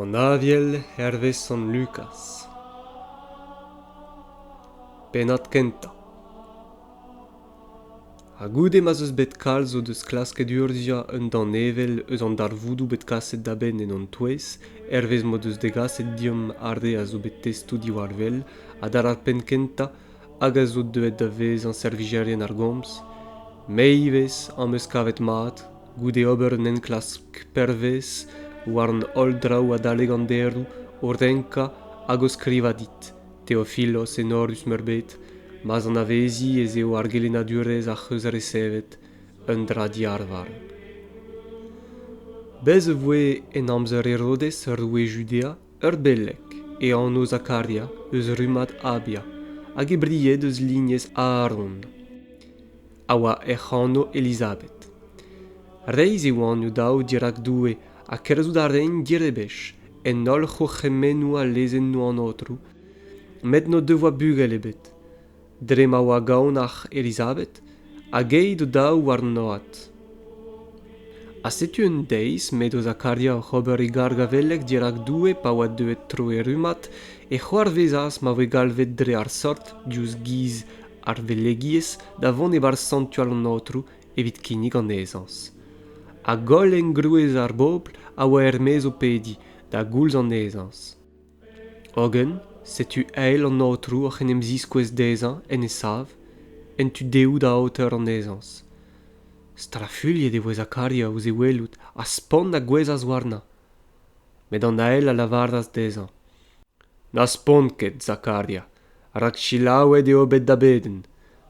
an aviel hervez sant lukaz pennad kentañ ha goude ma'z eus bet kalz o deus klasket urzhiañ un danevell eus an darvoudoù bet kaset da benn en hon touez hervez m'o deus degaset deomp ar re a zo bet testoù diwar-wel ha da ar penn kentañ hag a zo deuet da vezañ servijerien ar gomz me ivez am eus kavet mat goude ober un enklask pervezh war an holl draoù adalek an deroù o renkañ hag o skrivañ dit theophilos enorus-meurbet ma'z anavezi ez eo ar gelennadurezh ac'h eus resevet un dra diarvar bez' e voe en amzer herodes roue judea Ur beleg e anv Zakaria eus rummad Abia hag e bried eus lignez Aaron, a oa hec'h anv Elizabed. Reizh e oant o-daou dirak Doue ha kerzhout a raent direbech en holl c'hourc'hemennoù ha lezennoù an Aotrou, met n'o devoa bugel ebet. dre ma oa gaonac'h Elizabed hag aet o-daou warnoad. Ha setu un deiz m'edo Zakaria oc'h ober e gargavelleg dirak Doue pa oa deuet tro e rummad, e c'hoarvezas ma voe galvet dre ar sort diouzh giz ar velegiezh da vont e-barzh santual an Aotrou evit kinnig an ezañs. Hag holl engrouez ar bobl a oa er-maez o pediñ da goulz an ezañs. hogen setu eil an aotrou oc'h en em ziskouez dezhañ en e sav en tu dehoù da aoter an ezañs strafuilhet e voe zakaria ouzh e welout ha spont a gouezhas warnañ met an ael a lavaras dezhañ na spont ket zakaria rak selaouet eo bet da bedenn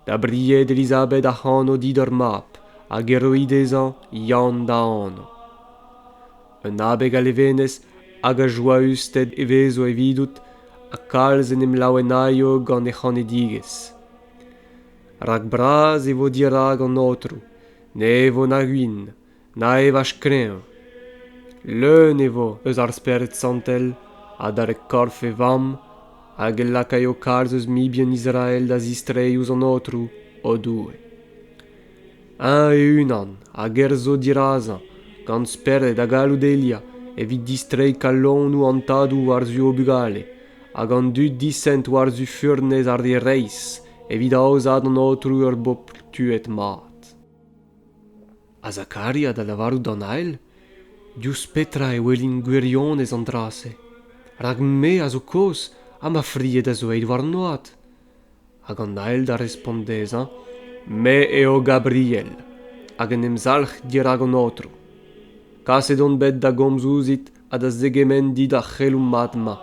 da bried elizabeth ac'hano dit ur mab hag e roy dezhañ yann da anv un abeg a levenez hag a joausted e vezo evidout ha kalz en em laouenaio gant he c'hanedigezh rak bras e vo dirak an aotrou ne vo na gwin na evaj kreñv leun e vo eus ar Spered Santel adarre korf e Vamm hag e lakaio kalz eus mibien Israel da zistreiñ ouzh an Aotrou, o Doue. Eñ e-unan a gerzho dirazañ gant spered ha galloud Elia evit distreiñ kalonoù an tadoù war-zu o bugale hag an dud disent war-zu furnez ar re reizh evit aozaat an Aotrou ur bobl tuet mat. ha Zakaria da lavarout d'an ael diouzh petra e welin gwirionez an dra-se rak me a zo kozh ha ma fried a zo aet war an oad hag an ael da respont dezhañ me eo Gabriel hag en em zalc'h dirak an aotrou kaset on bet da gomz ouzhit ha da zegemenn dit ar c'heloù mat-mañ.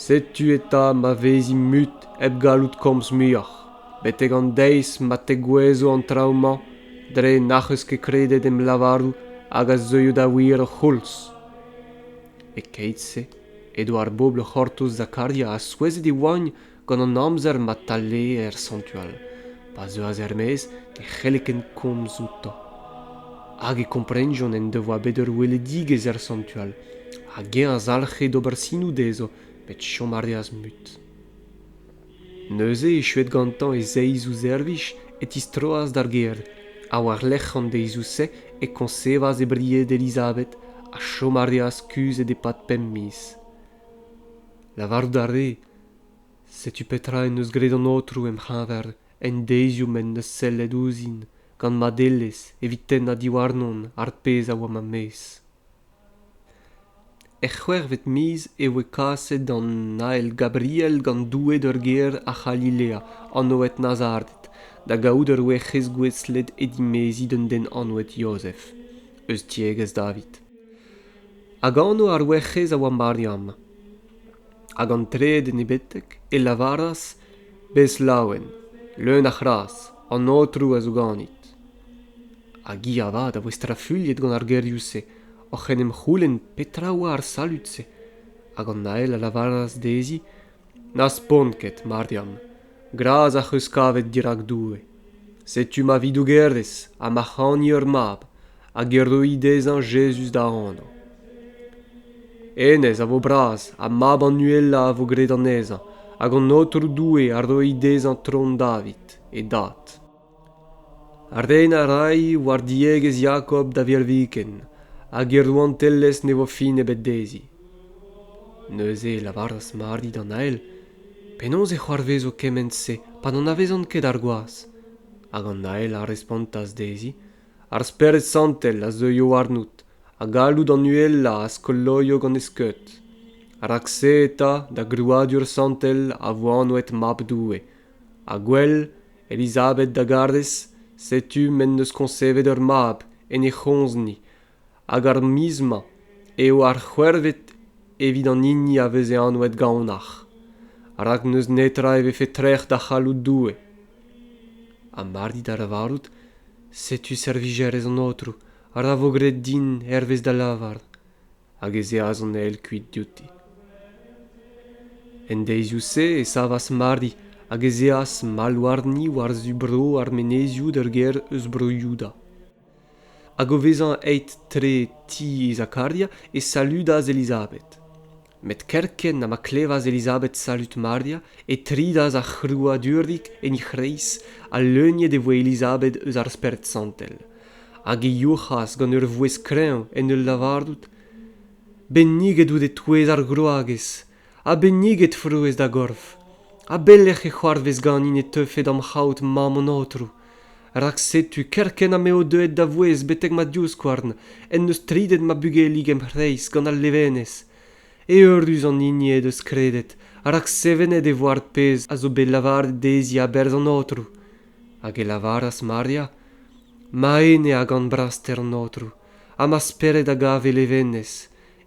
Setu eta ma vezin mut hep gallout komz muioc'h, betek an deiz ma tegouezho an traoù-mañ dre n'ac'h eus ket kredet em lavarout hag a zeuio da wir ur c'houlz. E-keit-se edo ar bobl o c'hortoz Zakaria ha souezhet e oagn gant an amzer ma taleer soñjal pa zeuas er-maez e c'helle ken komz outañ hag e komprenjont en devoa bet ur weledigezh er soñjal hag eñ a zalc'he d'ober sinoù dezho met chom a reas mut neuze echuet gantañ e zeiz ouzh servij e tistroas d'ar gêr ha war-lerc'h an deizioù-se e koñsevas e bried elizabeth ha chom a reas kuzhet e-pad pemp miz lavarout a rê setu petra en deus graet an aotrou em c'heñver en deizioù m'en deus sellet ouzhin gant madelezh evit tennañ diwarnon ar pezh a oa ma mezh er c'hwec'hvet miz e voe kaset an ael gabriel gant doue d'ur gêr a c'halilea anvet nazaret da gaout ur werc'hez gouestlet e dimeziñ d'un den anvet yozef eus tiegezh david hag anv ar werc'hez a oa mariam Hag an trede en he betek e lavaras bez laouen, leun a c'hras, an Aotrou a zo ganit. Hag hi avat a voe strafuilhet gant ar gerioù-se, oc'h en em c'houlenn petra oa ar salud-se. Hag an ael a lavaras dezhi n'az pont ket, Mariam. Gras ac'h eus kavet dirak Doue. Setu ma vi-dougerez ha ma c'hani ur mab hag e roi dezhañ Jezuz da anv. Hennezh a vo bras ha mab an uhelañ a vo graet anezhañ hag an Aotrou Doue a roi dezhañ tron David, e dad. Ren a ray war diegezh Jakob da virviken hag e rouantelezh ne vo fin ebet dezhi. Neuze e lavaras Mari d'an ael penaos e c'hoarvezo kement-se pa n'anavezan ket ar gwaz hag an ael a respontas dezhi ar spered santel a zeuio warnout ha galloud an uhelañ a skoloio gant e skeud rak-se eta da grouadur santel a vo anvet mab doue ha gwell elizabed da garez setu m'en deus koñsevet ur mab en he c'homzni hag ar miz-mañ eo ar c'hwec'hvet evit an hini a veze anvet gaonac'h rak n'eus netra e vefe trec'h da c'halloud Doue ha mar dit da lavarout setu servijerez an Aotrou ra vo graet din hervez da lavar hag ez eas an eil kuit diouti en deizioù-se e savas Mari hag ez eas mall warni war-zu bro ar menezioù d'ur gêr eus bro Youda Hag o vezañ aet tre ti Zakaria e saludas Elizabed. Met kerkent ha ma klevas Elizabed salud Maria e tridas ar c'hrouadurdig en he c'hreiz ha leuniet e voe Elizabed eus ar Spered Santel. Hag e youc'has gant ur vouezh kreñv en ul lavarout: Benniget out e-touez ar groagez! ha benniget frouezh da gorf a belec'h e c'hoarvez ganin e teufe da'm c'haout mamm an aotrou rak setu kerkent ha m'eo deuet da vouezh betek ma divskouarn en deus tridet ma bugelig em c'hreiz gant al levenez eürus an hini he deus kredet rak sevenet e vo ar pezh a zo bet lavaret dezhi a-berzh an aotrou hag e lavaras maria ma ene a gan braster an aotrou ha ma spered a gav e levenez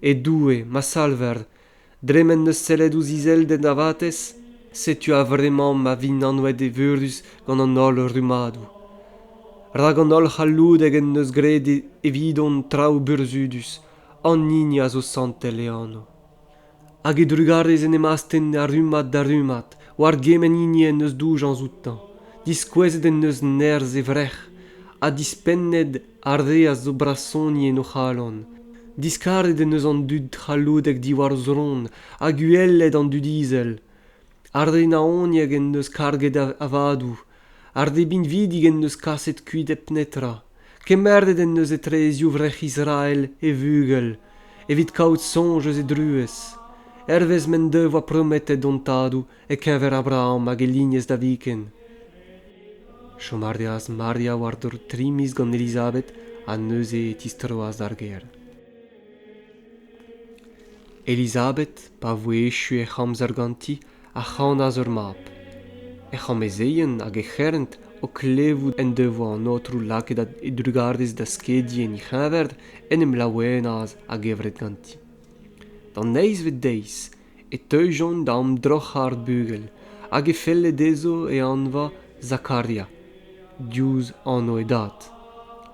e doue ma salver dre m'en deus sellet ouzh izelded ar vatezh setu a-vremañ ma vint anvet evurus gant an holl rummadoù rak an holl c'halloudeg en deus graet evidon traoù burzhudus an hini a zo santel e anv hag e drugarez en em astenn ar rummad da rummad war gement hini en deus doujañs outañ diskouezet en deus nerzh e vrec'h ha dispennet Ardez zo brasoni en o c'halon, diskaret en deus an dud c'halloudek diwar zron ha goueled an dud izel. Ar re naoniek en deus karget avadoù, ar re binvidik en deus kaset kuit hep netra. Kemeret en deus etrezioù vrec'h Israel e vugel, evit kaout soñj eus e druez. Hervez m'en devoa prometet hon tadoù, e-keñver Abraham hag e lignez da viken. Chom a reas Maria war-dro tri miz gant Elizabeth ha neuze e tistroas d'ar gêr. Elizabeth, pa voe echu hec'h amzer ganti, a c'hanas ur mab. He c'hamezeien hag he c'herent o klevout en devoa an Aotrou lakaet e drugarez da skediñ en he c'heñver, en em laouenas a-gevret ganti. D'an eizhvet deiz e teujont da amdroc'hañ ar bugel hag e felle dezho e anvañ Zakaria diouzh anv e dad.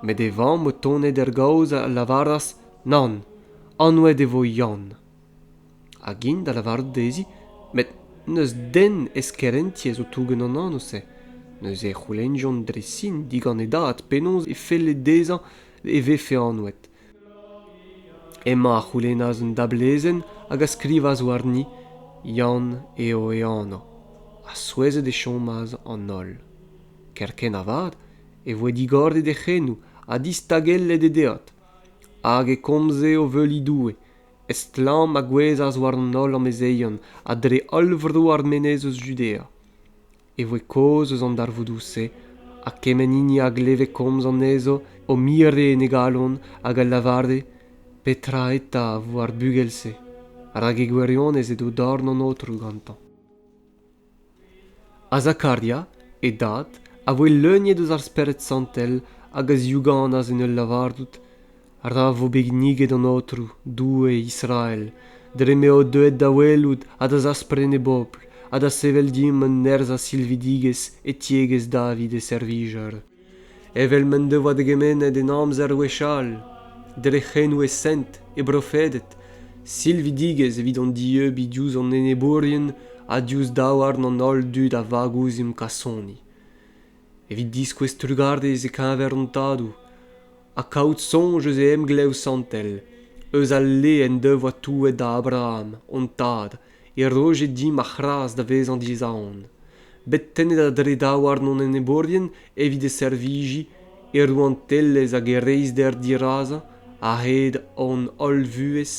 Met e vamm o tonet er gaoz a lavaras nann, anvet e vo Yann. Hag int da lavarout dezhi met n'eus den ez kerentiñ a zo touget an anv-se. Neuze e c'houlennjont dre sin digant e dad penaos e felle dezhañ e vefe anvet. Emañ a c'houlennas un dablezenn hag a skrivas warni Yann eo e anv, ha souezhet e chomas an holl. Kerkent avat e voe digoret e c'henoù ha distagellet e deod, hag e komze o veuliñ Doue. Estlamm a gouezhas war an holl amezeion ha dre holl vro ar menez eus Judea. e voe kaoz eus an darvoudoù-se ha kement hini a gleve komz anezho o mire en e galon hag a lavare petra eta a vo ar bugel-se rak e gwirionez edo dorn an aotrou gantañ azakaria e dad a voe leuniet eus ar spered santel hag a ziouganas en ul lavarout Ra vo bet kinniget an Aotrou, Doue Israel, dre m'eo deuet da welout ha da zaspren e bobl ha da sevel dimp un nerzh a silvidigezh e tiegezh David e servijer, evel m'en devoa degemennet en amzer gwechall, dre c'henoù e sent, e brofeded, silvidigezh evit hon dieubiñ diouzh hon enebourien ha diouzh daouarn an holl dud a vag ouzhimp kasoni. evit diskouez trugarez e-keñver hon tadoù ha kaout soñj eus e emglev santel eus al le en devoa touet da abraham hon tad e roje dimp ar c'hras da vezañ dizaon bet tennet a-dre daouarn hon enebourien evit e servijiñ e rouantelezh hag e reizhder dirazañ a-hed hon holl vuhez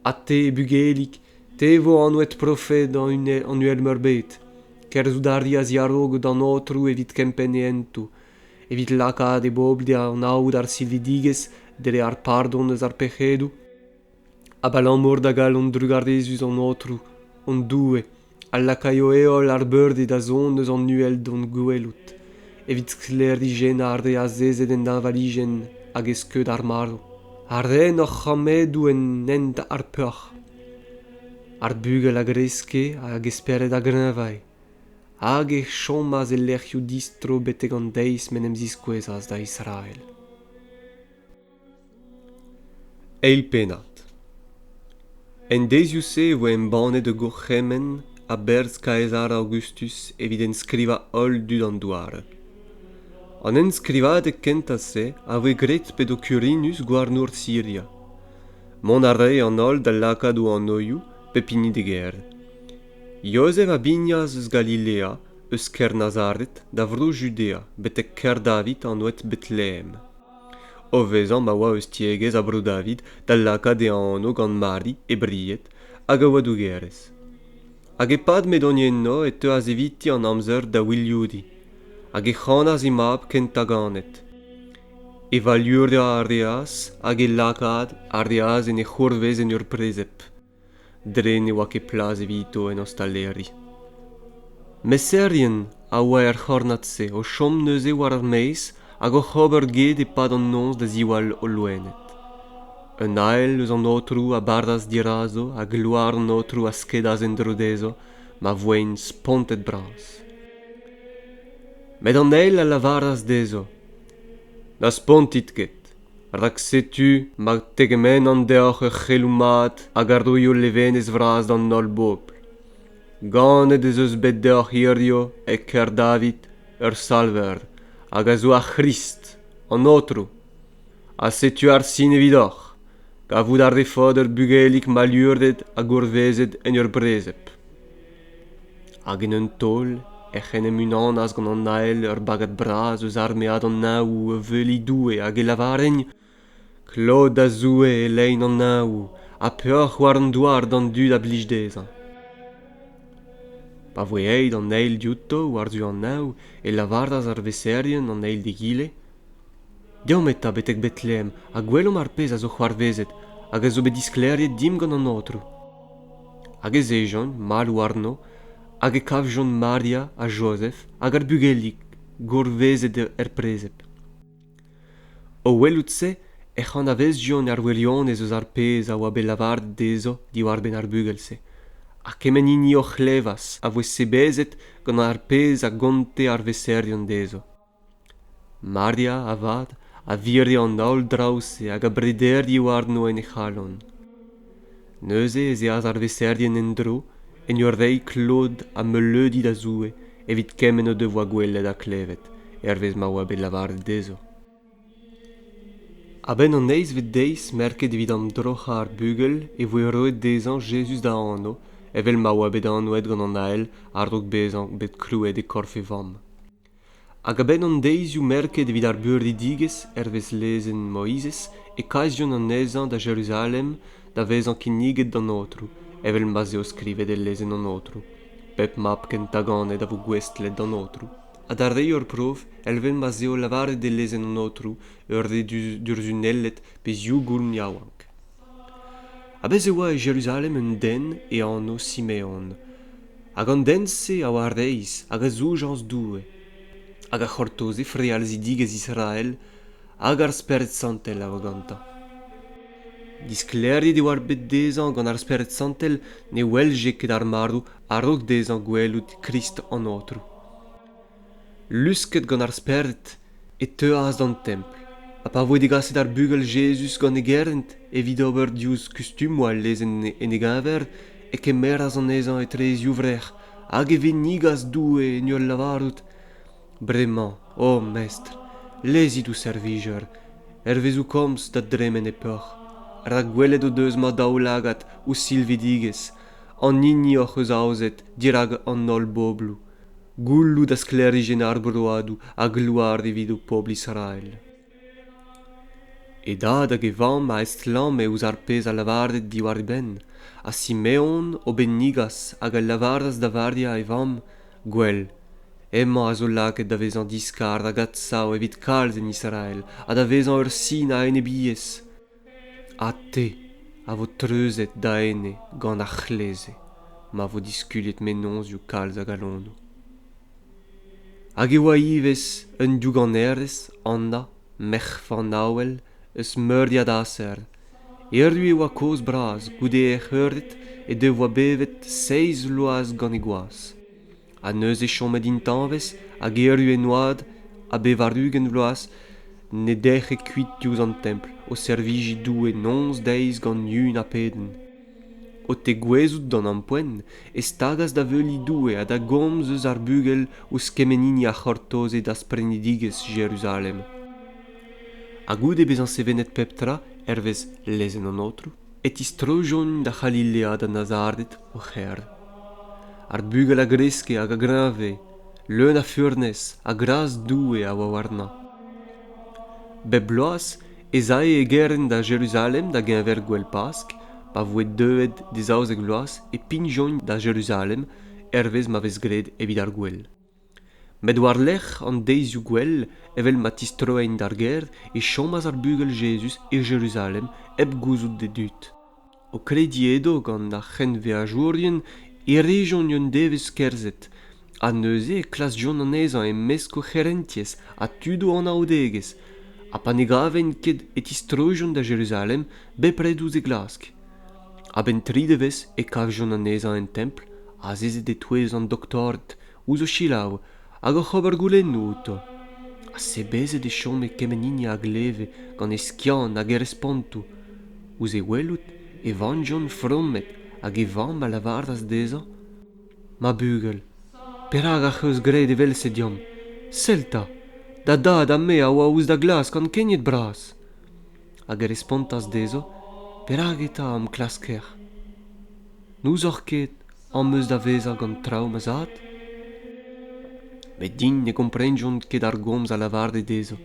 ha te bugelig Te vo anvet profed an Uhelmeurbed. Kerzhout a reas a-raok d'an Aotrou evit kempenn e hentoù, evit lakaat e bobl da anaout ar silvidigezh dre ar pardon eus ar pec'hedoù, abalamour da galon drugarezus an Aotrou, hon Doue, a lakaio heol ar beurded da zont eus an uhel d'hon gwelout. evit sklêrijennañ ar re azezet en deñvalijenn hag e skeud ar marv, ha ren hor c'hammedoù en hent ar peoc'h. Ar bugel a greske hag e spered a greñvae, hag e chomas e lec'hioù distro betek an deiz m'en em ziskouezas da Israel. eil pennad en deizioù-se e voe embannet ur gourc'hemenn a-berzh kaezar aogustus evit enskrivañ holl dud an douar an enskrivadeg kentañ-se a voe graet p'edo kurinus gouarnour siria mont a rae an holl da lakaat o anoioù pep hini d'e gêr jozef a bignas eus galilea eus kêr nazaret da vro judea betek kêr david anvet betlehem o vezañ ma oa eus tiegezh Bro-David da lakaat e anv gant Mari, e bried, hag a oa dougerez. Hag e-pad m'edont eno e teuas eviti an amzer da wilioudiñ, hag e c'hanas he mab kentañ ganet. E valurdañ a reas hag e lakaat a reas en e c'hourvez en ur prezeb. dre ne oa ket plas evito en ostaleri. Meserien a oa er c'hornad-se o chom neuze war ar maez hag oc'h ober get e-pad an noz da ziwall o loened. Un ael eus an aotrou a bardas dirazo ha gloar an aotrou a skedas en-dro dezho ma voent spontet-bras. Met an eil a lavaras dezho Na spontit ket, rak setu ma tegemennan deoc'h ur c'heloù mat hag a roio levenez vras d'an holl bobl. Ganet ez eus bet deoc'h hiziv e Kerdavit ur Salver hag a zo ar C'hrist, an Aotrou. Ha setu ar sin evidoc'h, kavout a refot ur bugelig mallurzhet ha gourvezet en ur brezeb. hag en un taol ec'h en em unanas gant an ael ur bagad bras eus armead an Naoù a veuliñ Doue hag e lavarent Klot da Zoue e lein an Naoù ha peoc'h war an douar d'an dud a blij dezhañ. Pa voe aet an eil diouto war-zu an Naoù e lavaras ar veserien an eil d'egile deomp eta betek betlehem ha gwelomp ar pezh a zo c'hoarvezet hag a zo bet disklêriet dimp gant an aotrou hag ez ejont mall warno hag e kavjont maria ha jozef hag ar bugelig gourvezet er prezed o welout-se ec'h anavezjont ar wirionez eus ar pezh a oa bet lavaret dezho diwar-benn ar bugel-se ha kement hini o c'hlevas a voe sebezet gant ar pezh a gonte ar veserion dezho Maria, avat, a vire an holl draoù-se hag a brederie warno en he c'halon. Neuze ez eas ar veserien en-dro, en ur reiñ klod ha meuleudi da Zoue evit kement o devoa gwelet ha klevet, hervez ma oa bet lavaret dezho. A-benn an eizhvet deiz merket evit amdroc'hañ ar bugel e voe roet dezhañ Jezuz da anv, evel ma oa bet anvet gant an Ael a-raok bezañ bet krouet e korf e vamm. Hag a-benn an deizioù merket evit ar beurdedigezh hervez lezenn Moizez e kasjont anezhañ da Jeruzalem da vezañ kinniget d'an Aotrou, evel ma'z eo skrivet e lezenn an Aotrou. Pep mab kentañ ganet a vo gouestlet d'an Aotrou. Ha d'ar re ur prof, evel ma'z eo lavaret e lezenn an Aotrou, ur re du- durzhunellet pe zivgoulm yaouank. Ha bez' e oa e Jeruzalem un den e anv Simeon. hag an den-se a oa reizh hag a zoujañs Doue hag a c'hortoze frealzidigezh Israel hag ar Spered Santel a oa gantañ. Disklêriet e oar bet dezhañ gant ar Spered Santel ne welje ket ar marv a-raok dezhañ gwelout Krist an Aotrou. Lusket gant ar Spered e teuas d'an Templ, ha pa voe degaset ar bugel Jezuz gant e gerent evit ober diouzh kustumoù al lezenn en e geñver, e kemeras anezhañ etre e zivrec'h hag e vennigas Doue en ul lavarout, Bremañ, o Mestr, lezit ho servijer, hervez ho komz, da dremen e peoc'h, rak gwelet o deus ma daoulagad ho silvidigezh, an hini hoc'h eus aozet dirak an holl bobloù. goulloù da sklêrijenn ar broadoù a gloar evit ho pobl Israel. E dad hag e vamm a estlamme ouzh ar pezh a lavare diwar e benn, ha Simeon o bennigas hag a lavaras da Varia e vamm, Gwell, hemañ a zo lakaet da vezañ diskar hag adsav evit kalz en Israel ha da vezañ ur sin a enebiezh. ha te a vo treuzet da ene gant ar c'hleze ma vo diskuliet mennozhioù kalz a galonoù hag e oa ivez un douganerez anna merc'h fanaouel eus meuriad aser erru e oa kozh bras goude hec'h eured he devoa bevet seizh bloaz gant he gwaz ha neuze chomet intañvez hag erru en oad a bevar-ugent vloaz ne dec'he kuit diouzh an templ o servijiñ Doue noz deiz gant yun ha pedenn. O tegouezhout d'an ampoent e stagas da veuliñ Doue ha da gomz eus ar bugel ouzh kement hini a c'hortoze dasprenidigezh Jeruzalem. Ha goude bezañ sevenet pep tra hervez lezenn an Aotrou, e tistrojont da c'halilead an Nazarded o c'hêr. Ar bugel a greske hag a greñve, leun a furnez ha gras Doue a oa warnañ. Bep bloaz ez ae e gerent da Jeruzalem da-geñver gouel Pask, pa voe deuet d'e zaouzek vloaz e pignjont da Jeruzalem hervez ma vez graet evit ar gouel. met war-lerc'h an deizioù gwell evel ma tistroent d'ar gêr e chomas ar bugel Jezuz e Jeruzalem hep gouzout d'e dud. O krediñ edo gant ar c'henveajourien e rejont un devezh kerzhet ha neuze e klasjont anezhañ e-mesk o c'herentiez ha tud o anaoudegezh ha pa ne gavent ket e tistroijont da Jeruzalem bepred ouzh e glask. A-benn tri devezh e kavjont anezhañ en templ azezet e-touez an doktorded ouzh o selaou hag oc'h ober goulennoù outo. Ha sebezet e chome kement hini a gleve gant e skiant hag e respontoù. Ouzh e welout e vankjont fromet hag e vamm a lavaras dezhañ Ma bugel, perak ac'h eus graet evel-se deomp? Sell 'ta, da dad ha me a oa ouzh da glask gant kegnet bras. hag e respontas dezho perak eta am klasker n'ouzoc'h ket am eus da vezañ gant traoù ma zad met din ne gomprenjont ket ar gomz a lavare dezho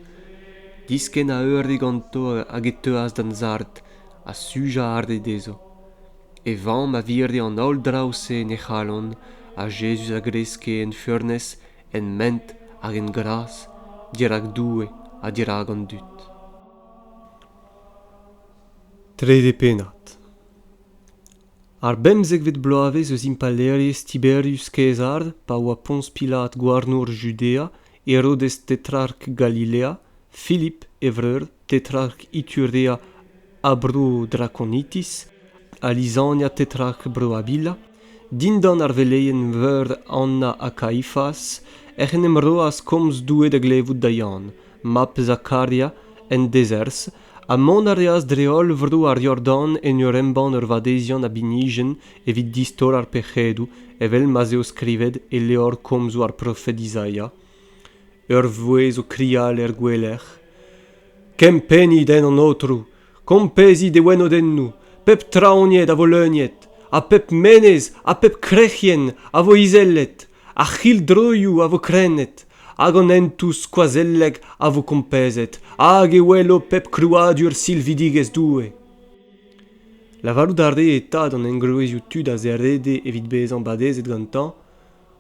diskenn a eure ganto hag e teuas d'an sard ha sujañ a rae dezho e vamm a vire an holl draoù-se en he c'halon ha Jezuz a greske en furnez en ment hag en gras dirak Doue ha dirak an dud Trede pennad. Ar bemzekvet bloavezh eus impalaerezh Tiberius Kaezar, pa oa Poñs Pilat gouarnour Judea, Herodes tetrark Galilea, Filip e vreur, tetrark Iturea ha bro Drakonitis, ha Lisania tetrark bro Avila, Dindan ar veleien-veur Anna ha Kaifas ec'h en em roas komz Doue da glevout da Yann, mab Zakaria, en dezerzh, ha mont a reas dre-holl vro ar Yordan en ur embann ur vadeziant a binijenn evit distor ar pec'hedoù, evel ma'z eo skrivet e levr komzoù ar profed Izaia. Ur vouezh o krial er gouelec'h. Kempennit en an aotrou, kompezit e wenodennoù, pep traoñied a vo leuniet, ha pep menez ha pep krec'hienn a vo izellet, ar c'hildroioù a vo krennet, hag an hentoù skoazellek a vo kompezet, hag e welo pep krouadur silvidigezh Doue. Lavarout a ree eta d'an engroezioù tud a zerede evit bezañ badezet gantañ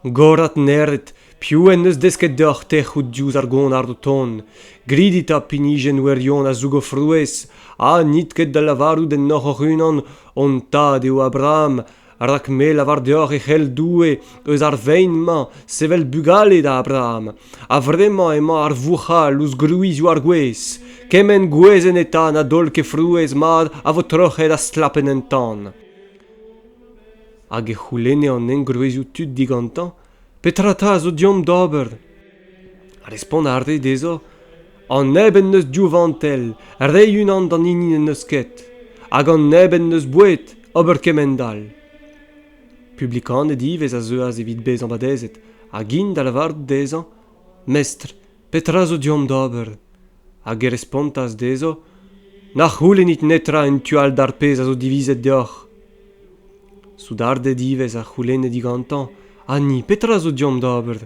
gorat neret piv en deus desket deoc'h tec'hout diouzh ar gonard o tont gridit ha pinijenn wirion a zoug o frouezh ha n'it ket da lavarout ennoc'h hoc'h-unan hon tad eo Abraham rak me lavar deoc'h e c'hell Doue eus ar vein-mañ sevel bugale da Abraham a-vremañ emañ ar vouc'hal ouzh gwrizioù ar gwez kement gwezenn eta na daol ket frouezh mat a vo troc'het ha stlapet en tan hag e c'houlenne an engroezioù tud digantañ petra 'ta a zo deomp d'ober respont a rae dezhañ an neb en deus div vantell reiñ unan d'an hini n'en deus ket hag an neb en deus boued ober kement-all publikaned ivez a zeuas evit bezañ badezet hag int da lavarout dezhañ mestr Petra zo deomp d'ober? Hag e respontas dezho, Na c'houlennit netra en tu all d'ar pezh a zo divizet deoc'h. Soudarded ivez a c'houlenne digantañ, Ha ni, petra zo deomp d'ober?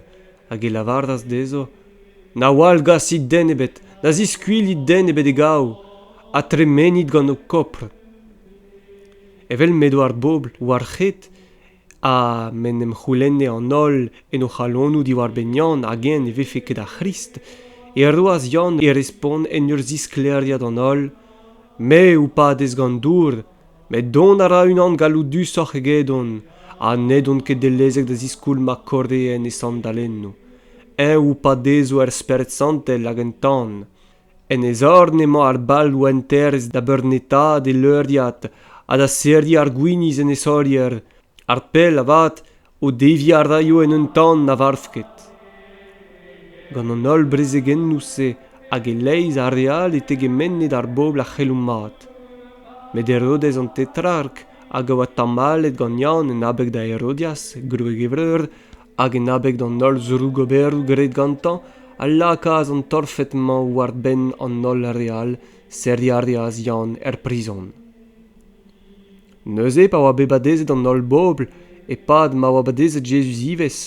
Hag e lavaras dezho, Na wallgasit den ebet, na ziskuilhit den ebet e gaou, ha tremenit gant ho kopr. Evel m'edo ar bobl war-c'hed, ha m'en em c'houlenne an holl en o c'halonoù diwar-benn Yann hag-eñ ne vefe ket ar C'hrist, e roas Yann e respont en ur zisklêriañ d'an holl: Me ho padez gant dour, met dont a ra unan galloudusoc'h egedon ha n'edon ket dellezek da ziskoulm ma korreen e sandalennoù. Eñ ho padezo er Spered Santel hag en tan. en e zorn emañ ar bal rouanterezh da beurnetaat e leuriad ha da serriñ ar gwinizh en e saolier ar pell avat o deviñ a raio en un tamm na varv ket gant an holl brezegennoù-se hag e-leizh a re all e tegemenned ar bobl a c'hello mat met herodez an tetrark hag a oa tamallet gant yann en abeg da herodias gwreg e vreur hag en abeg d'an holl zrougoberoù graet gantañ a lakaas an torfed-mañ war-benn an holl re all serriñ a reas Yann er prizon. Neuze, pa oa bet badezet an holl bobl, e-pad ma oa badezet Jezuz ivez,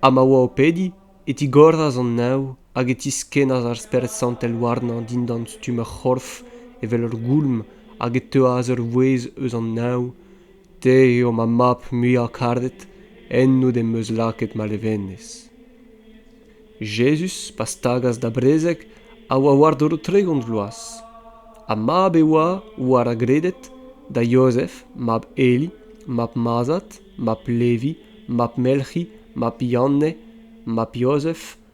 ha ma oa o pediñ, e tigoras an neñv hag e tiskennas ar Spered Santel warnañ dindan stumm ur c'horf evel ur goulm hag e teuas ur vouezh eus an neñv Te eo ma mab muiañ-karet ennout em eus lakaet ma levenez. Jezuz, pa stagas da brezeg, a oa war-dro tregont vloaz, ha mab e oa, war a greded, da Jozef, mab Eli, mab Mazat, mab Levi, mab Melc'hi, mab Yanne, mab Jozef,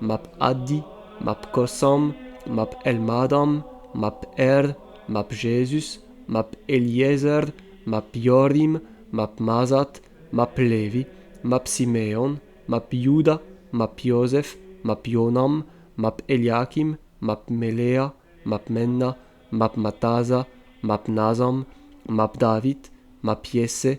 mab Adi mab Kossam mab Elmadam mab Er mab Jezuz mab Eliezer mab Yorim mab Mazat mab Levi mab Simeon mab Youda mab Yozef mab Yonam mab Eliakim mab Melea mab Menna mab Mataza mab Nazam mab David mab Yesse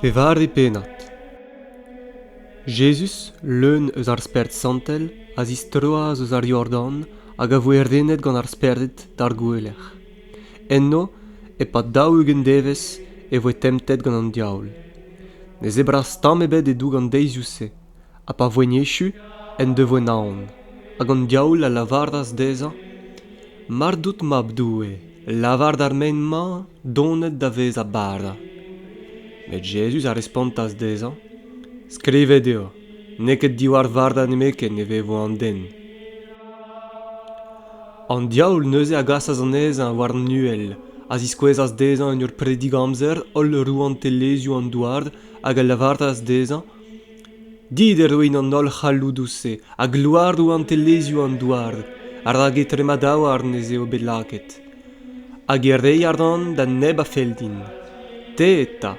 Pevare pennad Jezuz, leun eus ar Spered Santel, a zistroas eus ar Yordan hag a voe renet gant ar Spered d'ar gouelec'h. Enno, e-pad daou-ugent devezh, e voe temptet gant an diaoul. Ne zebras tamm ebet e-doug an deizioù-se, ha pa voent echu en devoe naon hag an diaoul a lavaras dezhañ mar dout mab doue lavar d'ar mein-mañ donet da vezañ bara met jezuz a respontas dezhañ skrivet eo n'eo ket diwar vardañ nemetken e vevo an den an diaoul neuze a gasas anezhañ war an uhel a ziskouezas dezhañ en ur predig amzer holl rouantelezhioù an douar hag a lavaras dezhañ Dit e roin an holl c'halloudoù-se ha gloaroù rouantelezhioù an douar, rak etre ma daouarn ez eo bet lakaet. Hag e rei a ran da neb a fell din. Te eta,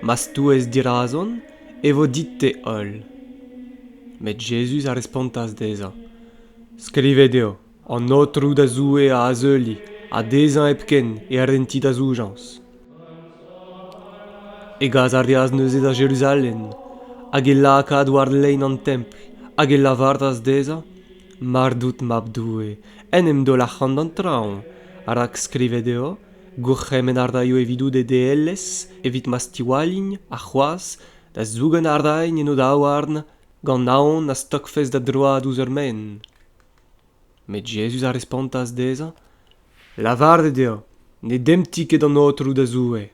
ma stouez dirazon, e vo dit-te holl. Met Jezuz a respontas dezhañ, Skrivet eo. an aotrou da zoue a azeulie ha dezhañ hepken e renti da zoujañs e gas a reas neuze da jeruzalem hag e lakaas war lein an templ hag e lavaras dezhañ mar dout mab doue en em daol ac'han d'an traoñ rak skrivet eo gourc'hemenn a raio evidout e deelezh evit ma stiwallin ha c'hoazh da zougen a rain en o daouarn gant aon na stokfes da droad ouzh ur maen Met Jezuz a respontas dezhañ, Lavaret eo, ne demti ket an Aotrou da Zoue.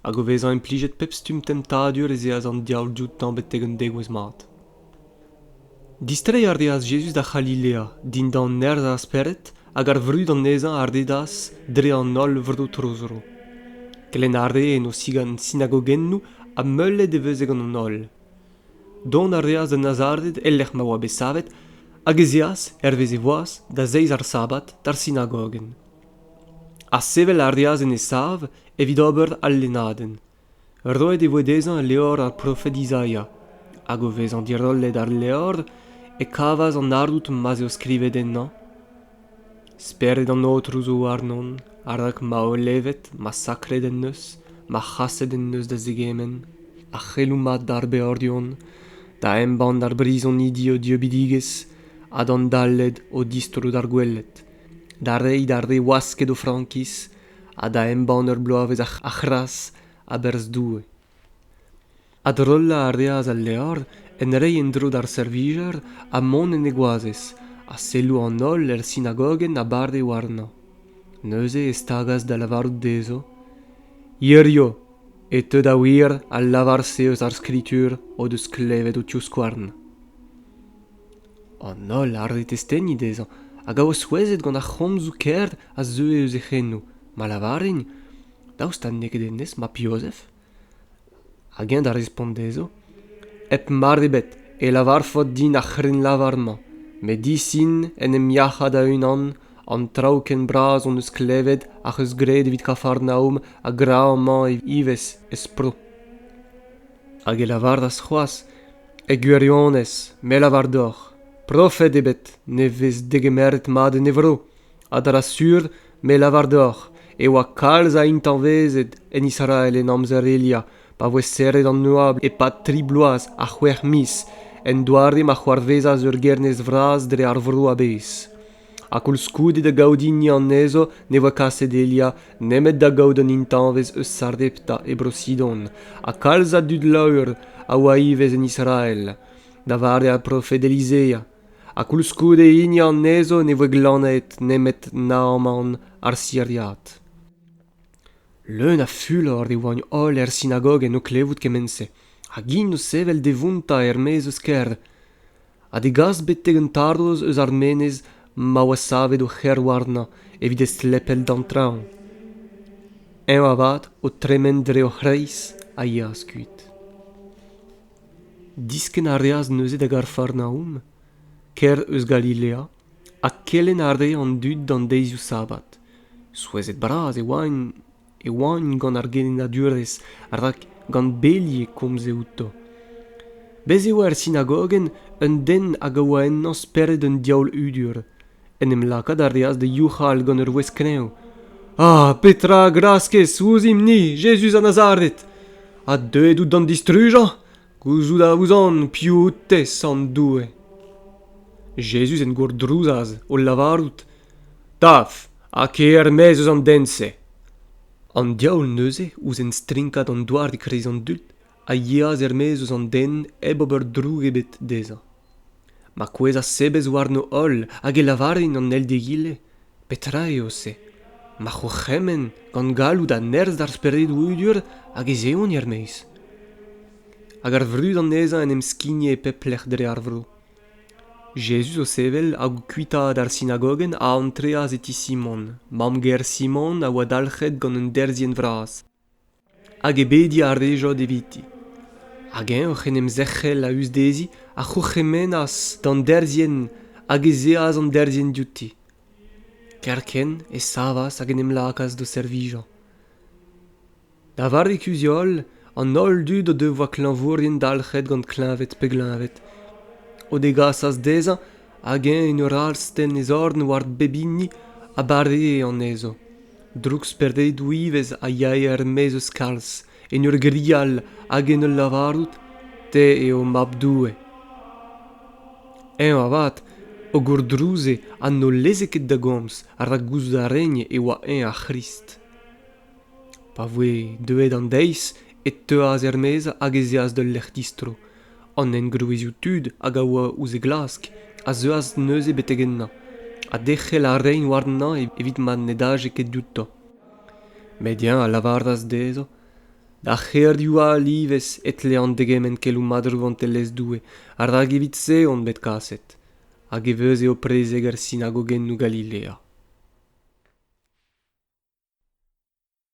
Hag o vezañ implijet pep stumm temptadur ez eas an diaoul dioutañ betek un degouezh mat. Distreiñ a reas Jezuz da C'halilea, dindan nerzh ar Spered, hag ar vrud anezhañ a redas dre an holl vro tro-zro. Kelenn a ree en o sigant sinagogennoù ha meulet e veze gant an holl. Dont a reas da Nazaret e-lec'h ma oa bet savet, hag ez eas, hervez e voaz, da zeiz ar Sabad d'ar sinagogenn. Ha sevel a reas en e sav evit ober al lennadenn. Roet e voe dezhañ levr ar profed Izaia, hag o vezañ dirollet ar levr e kavas an ardoud ma'z eo skrivet ennañ Spered an Aotrou zo warnon, rak ma olevet, ma sakret en deus, ma c'haset en deus da zegement, a c'hello mat d'ar beordion, da embann d'ar brizonidi o dieubidigezh ha d'an Daled o distro d'ar gweled, da reiñ d'ar re wasket o frankiz ha da embann ur bloavezh a c'hras a-berzh Doue. Adrollañ a reas al levr en reiñ en-dro d'ar servijer ha mont en e goazez ha selloù an holl er sinagogenn a bade warnañ. Neuze e stagas da lavarout dezho, Hirio, e teu da wir al lavar-se eus ar Skritur o deus klevet ho tivskouarn. An holl a rede testeni dezhañ hag a oa souezhet gant ar c'homzoù kaer a zeue eus e c'henoù, ma lavarent, Daoust ha n'eo ket hennezh mab Jozef? Hag eñ da respont dezho, Hep mar ebet e lavarfot din ar c'hrennlavar-mañ, met disin en em yac'hañ da-unan an traoù ken bras hon eus klevet ac'h eus graet evit Kafarnaom ha gra amañ ivez ez pro. Hag e lavaras c'hoazh, E gwirionez, me 'lavar deoc'h, profed ebet ne vez degemeret mat en e vro. a dra sur me lavar deoc'h e oa kalz a intañvezed en Israel en amzer Elia pa voe serret an oabl e-pad tri bloaz ha c'hwec'h miz en doare ma c'hoarvezas ur gernez vras dre ar vro a-bezh ha koulskoude da gaout hini anezho ne voe kaset Elia nemet da gaout un intañvez eus Sardepta e Bro-Sidon ha kalz a dud laour a oa ivez en Israel da vare ar profed Elizeia ha koulskoude hini anezho ne voe glannet nemet Naaman ar Siriad. Leun a fulor e oant holl er sinagog en o klevout kement-se, hag int o sevel da vountañ er-maez eus kêr, ha da gas betek un tarrouz eus ar menez ma oa savet o c'herwarnañ evit estlepel d'an traoñ. Eñ avat, o tremen dre o c'hreiz, a yeas kuit. Diskenn a reas neuze da Garfarnaum, kêr eus Galilea, ha kelenn a rae an dud d'an deizioù sabbat. Souezhet-bras e oant e oant gant ar gelennadurezh rak gant beli e komze outo. Bez' e oa er sinagogenn un den hag a oa ennañ spered un diaoul hudur. En em lakaat a reas da youc'hal gant ur wezh kreñv. Ah, petra a graskez ouzhimp-ni, Jezuz a Nazaret? Ha deuet out d'an distrujañ? Gouzout a ouzon piv out-tez sant Doue. Jezuz en gourdrouzas, o lavarout Taf, ha ker er-maez eus an den-se. An diaoul neuze, ouzh enstrinkat an doare e-kreiz an dud, a yeas er-maez eus an den hep ober droug ebet dezhañ ma kouezhas sebez warno holl hag e lavare en an eil d'egile petra eo-se ma c'hourc'hemenn gant galloud ha nerzh d'ar speredoù udur hag ez eont er-maez hag ar vrud anezhañ en em skigne e pep lec'h dre ar vro jezuz o sevel hag o kuitaat ar sinagogenn a antreas e ti simon mamm-ger simon a oa dalc'het gant un derzhienn vras hag ebediñ a rejod eviti hag eñ oc'h en em zerc'hel a-us dezhi a c'hourc'hemennas d'an derzhienn hag ez eas an derzhienn diouti kerkent e savas hag en em lakaas d'o servijañ da vare kuzh-holl an holl dud o devoa klañvourien dalc'het gant kleñved pe gleñved o degasas dezhañ hag eñ en ur astenn e zorn war pep hini a baree anezho Drouksperdedoù ivez a yae er-maez eus kalz, en ur grial hag en ul lavarout Te eo Mab Doue. Eñ avat, o gourdrouze ha n'o leze ket da gomz rak gouzout a rene e oa eñ ar C'hrist. Pa voe deuet an deiz e teuas er-maez hag ez eas d'ul lec'h distro, an engroezioù tud hag a oa ouzh e glask a zeuas neuze betek ennañ ha derc'hel a raent warnañ evit ma ne daje ket dioutañ. Met eñ a lavaras dezhañ da c'herioù all ivez e tlean degemenn keloù mat Rouantelezh Doue rak evit-se on bet kaset hag e vez eo prezeg er sinagogennoù Galilea.